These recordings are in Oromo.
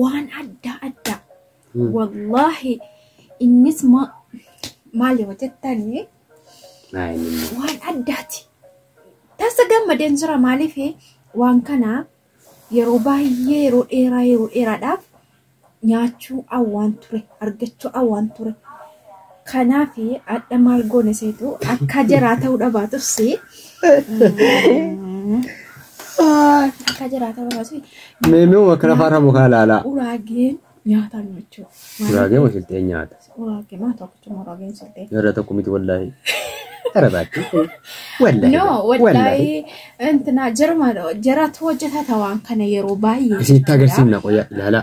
waan adda addaa wallaahi innis ma- maal yoo jettanii waan addaati tasa gammadeen jira maaliif waan kana yeroo baay'ee yeroo dheeraa yeroo dheeraadhaaf nyaachuu awwaan ture argachuu awwaan ture Kanaaf adha maal goona seetu akka jaraa ta'uu dhabaatus akka jaraa ta'uu dhabaatus Meemee uma kana faana mukaa laalaa. uraageen nyaata nyaachuu. Uraagee musiltee nyaata. Uraagee maa tokkicha uraageen siltee. Yeroo tokko miti wallaahi. Gara baatti. Wallaahi. No, wallahi intina jaruma jaratu hojjeta tawaan kana yeroo baay'ee. Isinitti agarsiifna qoyaa ilaalaa.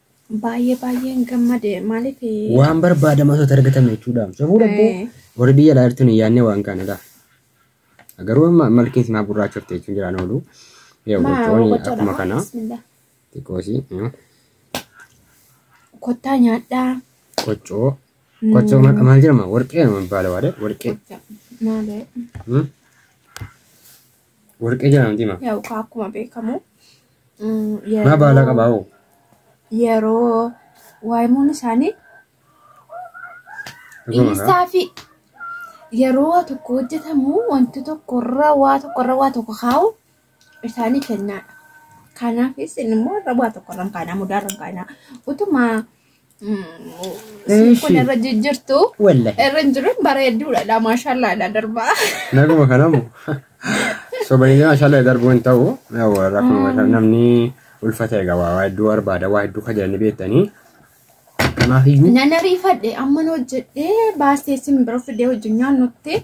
Baay'ee baay'een gammade maaliif Waan barbaadama osoo argatame jechuudha. Safuu dhabbuu Eh. warri biyya alaa jirtu hin yaadne waan kana laa. Garuu amma malkeen simaa gurraachofte jechuun jiraan oolu. Yaa maa gochooni gochoodha akkuma maa kana bismillah. xiqqoosii mm, Kottaa nyaadhaa. qoccoo. Qoccoo maqa maal jedhama? Warqee nama baala waadee warqee. Maali? Mm. Warqee jedhamti ma. Yaa'u kaa akkuma beekamu mm, Maa baalaa yeroo qabaa hoo? yeroo waayimuun isaanii Dhuguma kaa? dhiisaa fi yeroo waa tokko hojjetamu wanti tokkorra waa tokkorra waa tokko kaa'u isaanii kennaadha. Kanaafis immoo irra waa tokkorra hin kaa'ina mudaarra hin kaa'ina. Utuma Siin kun irra jijjirtu Wallahi. irra hin jiru bareedduudha dha maashaallah dha darbaa. Naguma kanamu. Sobayyee maashaallah darbuu hin ta'u. Yawwa rakkoo maashaallah namni ulfata egaa waa waa hedduu barbaada waa hedduu kajalanii beektanii. Kanaaf iyyuu Nan ariifadhe amman hojjedhee baasee sin bira fidee hojii nyaannutti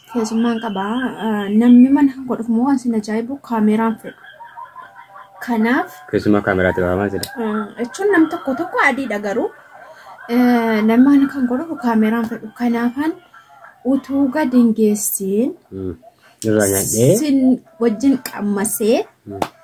keessummaan qaba. Ah, Namni mana koo dhufu immoo waan sin ajaa'ibu kaameeraan fedhu. Kanaaf Keessumaa kaameraatti baafaman sila. ah, jechuun nam tokko tokko adiidha garuu eh, namni mana kan koo dhufu kaameeraan fedhu. Kanaafan utuu gadi hin geessiin Irraa nyaadhee. sin wajjin qammasee Mm.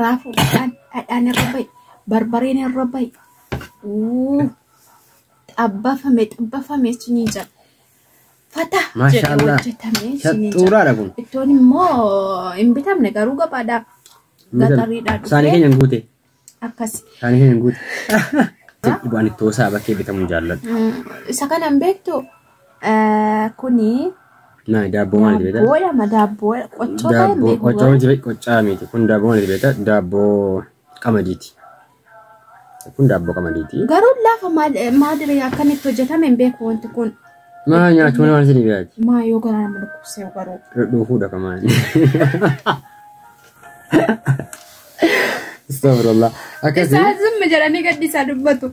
Raafuudhaan dhadhaan irra ba'i. Barbareen irra ba'i. Uu, Xabbafame xabbafame siniin jedha. Fata jedhee Maashaallah. hojjetame siniin jedha. Shaxxuuraadha kun. Ittoon immoo hin bitamne garuu gabaadhaa. Gaxariidhaa Saanii dhufee keenya hin guute. akkasi. Saanii keenya hin guute. Dhugaan ittoo isaa bakkee bitamuu jaalladhu. Mm, Isa kana hin beektu Kuni Naa daabboo maal itti beektaa? daabboodha ma daabboo qochoo ta'e hin Daabboo beeku qoccaa garuu. miti qoccaa miti. Kun daabboo maal itti beektaa? Daabboo qamadiiti. Kun daabboo qamadiiti. Garuu lafa maal- maadire akkamitti hojjetame hin beeku wanti kun. Maa nyaachuun waan isin dhiyaati? Maa yoo garaa nama dhukkubsee garuu. Dhuufuudha kamaan. Astagfirullah. Akkasii. Isaa zimmi jedhanii gaddi isaa dubbatu.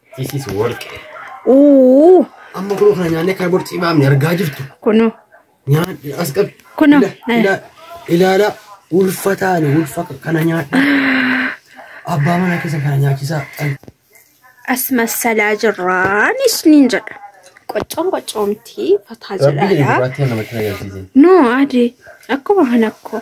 This is warqee. Uuu Amma kunoo kana nyaannee kana bor cimaamne argaa jirtu. kunu Nyaan as qabi. Kunoo, Ila- eh. ila- Ilaala ulfa taane ulfa kana nyaadha. Abbaa manaa keessa kana nyaachisaa. as massalaa jirraan isniin jedha. Qoccoon qoccoo miti fataa Rabbii jedhaadha. gurraattii namatti na agarsiise. No adi akkuma kan akkoo.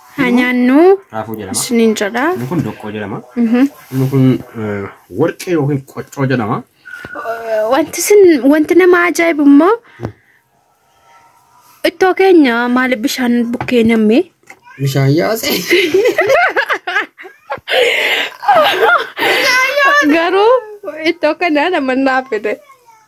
Haa nyaannuu Raafuu jedhama. isiniin jedha. Inni kun doqqoo jedhama. Mhm. Inni kun eh, warqee yookiin qoccoo jedhama. Wanti isin wanti nama ajaa'ibu immoo ittoo keenya maaliif bishaan bukkee namme? Bishaan yaasee. Garuu ittoo kana nama naaf fide.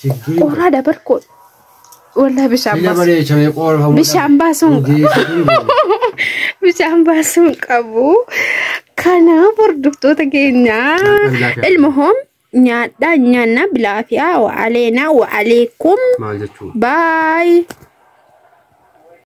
Chiggii. Qorraa dabar koo. Wallah bishaan Biyya baasu. bareecha mee qoorfamuu Bishaan baasuun bishaan baasuun qabu. Kanaaf hordoftoota keenyaa ilma hoom nyaadhaa nyaannaa bilaafiyaa wa aleenaa wa aleekum Maal jechuudha? baay.